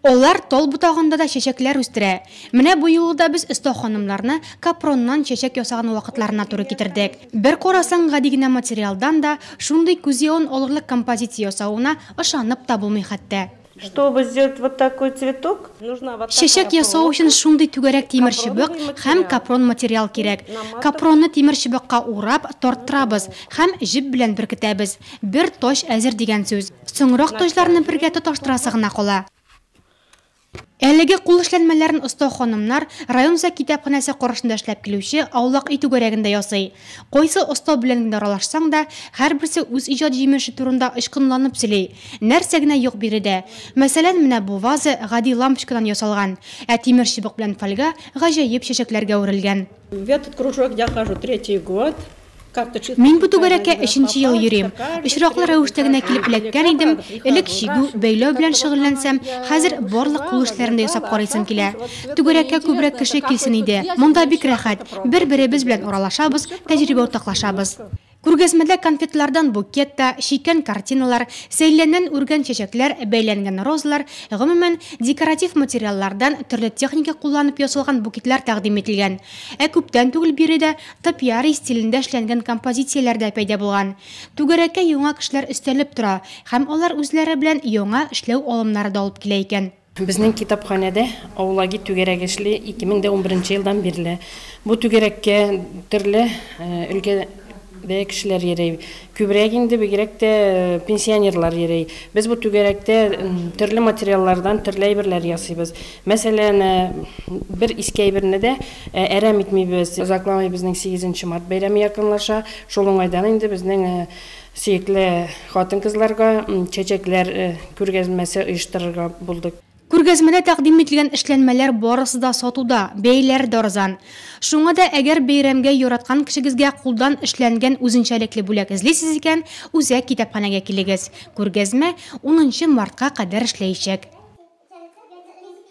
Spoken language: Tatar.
Алар тал ботагында да чәчәкләр үстерә. Менә бу юлы да без оста ханымнарны капроннан чәчәк ясаган вакытларына туры китердек. Бер карасаң, гади генә материалдан да шундый күз явын алырлык композиция ясавына ышанып та булмый хәтта. Чтобы сделать вот такой цветок, нужна вот такая проволока. Чәчәк ясау өчен шундый түгәрәк тимер чыбык һәм капрон материал кирәк. Капронны тимер чыбыкка урап, тарттырабыз һәм җеп белән беркетәбез. Бер тач әзер дигән сүз. Соңрак тоҗларны бергә тоташтырасы гына кала. Әлеге кул эшләнмәләрен оста ханымнар район үзәк китапханәсе каршында эшләп килүче Аулак өй түгәрәгендә ясый. Кайсы оста белән генә аралашсаң да, һәрберсе үз иҗат җимеше турында ычкынланып сөйли. Нәрсә генә юк биредә! Мәсәлән, менә бу ваза гади лампочкадан ясалган, ә тимер чыбык белән фольга гаҗәеп чәчәкләргә үрелгэн. В этот кружок я хожу третий год. Мин бу түгәрәккә өченче ел йөрим. Очраклы рәвештә генә килеп эләккән идем, элек чигү, бәйләү белән шөгыльләнсәм, хәзер барлык кул эшләрен дә ясап карыйсым килә. Түгәрәккә күбрәк кеше килсен иде. Монда бик рәхәт, бер-беребез белән аралашабыз, тәҗрибә уртаклашабыз. Күргәзмәдә конфетлардан букет та, чиккән картиналар, сәйләннән үргән чәчәкләр, бәйләнгән розалар, гомумән, декоратив материаллардан төрле техника кулланып ясалган букетлар тәкъдим ителгән. Ә күптән түгел биредә Топиарий стилендә эшләнгән композицияләр дә пәйда булган. Түгәрәккә яңа кешеләр өстәлеп тора һәм алар үзләре белән яңа эшләү алымнары да алып килә икән. Безнең китапханәдә Аулаги түгәрәге эшли 2011 елдан бирле. Бу түгәрәккә төрле өлкәдә кешеләр йөри. Күбрәк инде бигрәк тә пенсионерлар йөри. Без бу түгәрәктә төрле материаллардан төрле әйберләр ясыйбыз. Мәсәлән, бер иске әйберне дә әрәм итмибез. Озакламый безнең сигезенче март бәйрәме якынлаша. Шул уңайдан инде безнең сөекле хатын-кызларга чәчәкләр күргәзмәсе оештырырга булдык. Күргәзмәдә тәкъдим ителгән эшләнмәләр барысы да сатуда, бәяләре дә арзан. Шуңа да әгәр бәйрәмгә яраткан кешегезгә кулдан эшләнгән үзенчәлекле бүләк эзлисез икән, үзәк китапханәгә килегез. Күргәзмә унынчы мартка кадәр эшләячәк.